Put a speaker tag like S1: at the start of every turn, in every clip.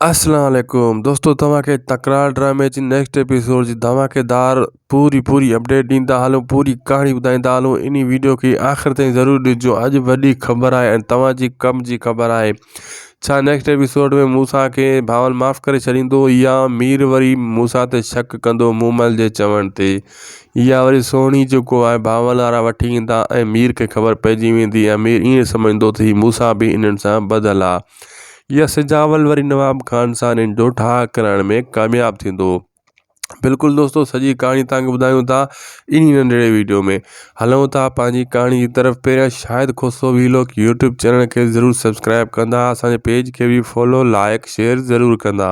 S1: اسلام عليڪم دوستو توهان کي تڪرار ڊرامي جي نيڪسٽ ايپيسوڊ جي ڌماڪيدار پوري پوري اپڊيٽ ڏيندا هلون پوري ڪهاڻي ٻڌائيندا هلون انهي ويڊيو کي آخر تائين ضرور ڏسجو اڄ وڏي خبر آهي ۽ توهان جي ڪم جي خبر آهي ڇا نيڪسٽ ايپيسوڊ ۾ موسا کي ڀاول معاف ڪري ڇڏيندو يا مير وري موسا تي شڪ ڪندو مومل جي چوڻ تي يا وري سهڻي جيڪو آهي ڀاول وارا وٺي ايندا ۽ مير کي خبر پئجي ويندي ۽ مير ائين سمجهندو ته هي موسا به انهن سان ٻڌل آهي يا سجاول وري نواب خان سان ان جو ٺاهه ڪرائڻ ۾ ڪامياب ٿيندو هو بلڪل دوستو سڄي ڪهاڻي تهانکي ٻڌايون ٿا انهي ننڍڙي ويڊيو ۾ هلون ٿا پنهنجي ڪهاڻي جي طرف پهريان Shahid Khoso vlog YouTube channel کي ضرور سبسڪرائب ڪندا اسان جي پيج کي به فالو لائڪ شيئر ضرور ڪندا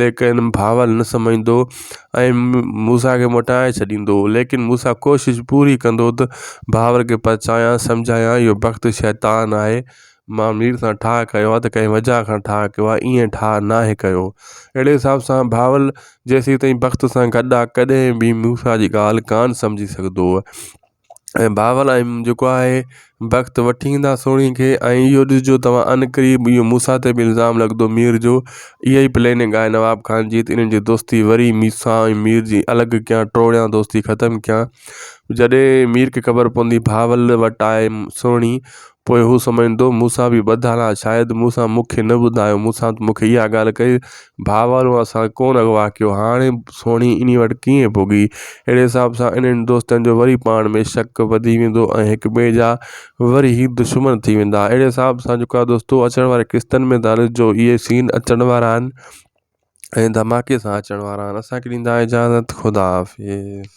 S1: ليڪن بھاول نه سمجهندو ۽ موسيٰ کي موٽائي ڇڏيندو هو، ليڪن موسيٰ ڪوشش پوري ڪندو ته بھاول کي پرچايان سمجهايان اهو بخت شيطان آهي، مان مير سان ٺاهه ڪيو آهي ته ڪنهن وجهه کان ٺاهه ڪيو آهي ائين ٺاهه ناهي ڪيو. اهڙي حساب سان بھاول جيسيتائين بخت سان گڏ آهي ڪڏهن به موسيٰ جي ڳالهه ڪانه سمجهي سگهندو هو. ۽ بابل ۽ جيڪو آهي بخت وٺي ايندا سوڻي کي ۽ اهو ڏسجو توهان ان قريب اهو موسيٰ تي به الزام لڳندو مير جو اها ئي پليننگ آهي نواب خان جيت انهن جي دوستي وري موسيٰ ۽ مير جي الڳ ڪيان ٽوڙيان دوستي ختم ڪيان جڏهن مير کي خبر پوندي بابل وٽ آهي سوڻي پوء هو سمجهندو موسيٰ به ٻڌل آهي شايد موسيٰ مون کي نه ٻڌايو موسيٰ مون کي اها ڳالهه ڪئي ڀاورو اسان ڪونه اغوا ڪيو هاڻي سهڻي انهي وٽ ڪيئن پڳي اهڙي حساب سان انهن دوستن جو وري پاڻ ۾ شڪ وڌي ويندو ۽ هڪ ٻئي جا وري هي دشمن ٿي ويندا اهڙي حساب سان جيڪو آهي دوستو اچڻ واري قسطن ۾ تان جو اهي سين اچڻ وارا آهن ۽ ڌماڪي سان اچڻ وارا آهن اسان کي ڏيندا اجازت خدا حافظ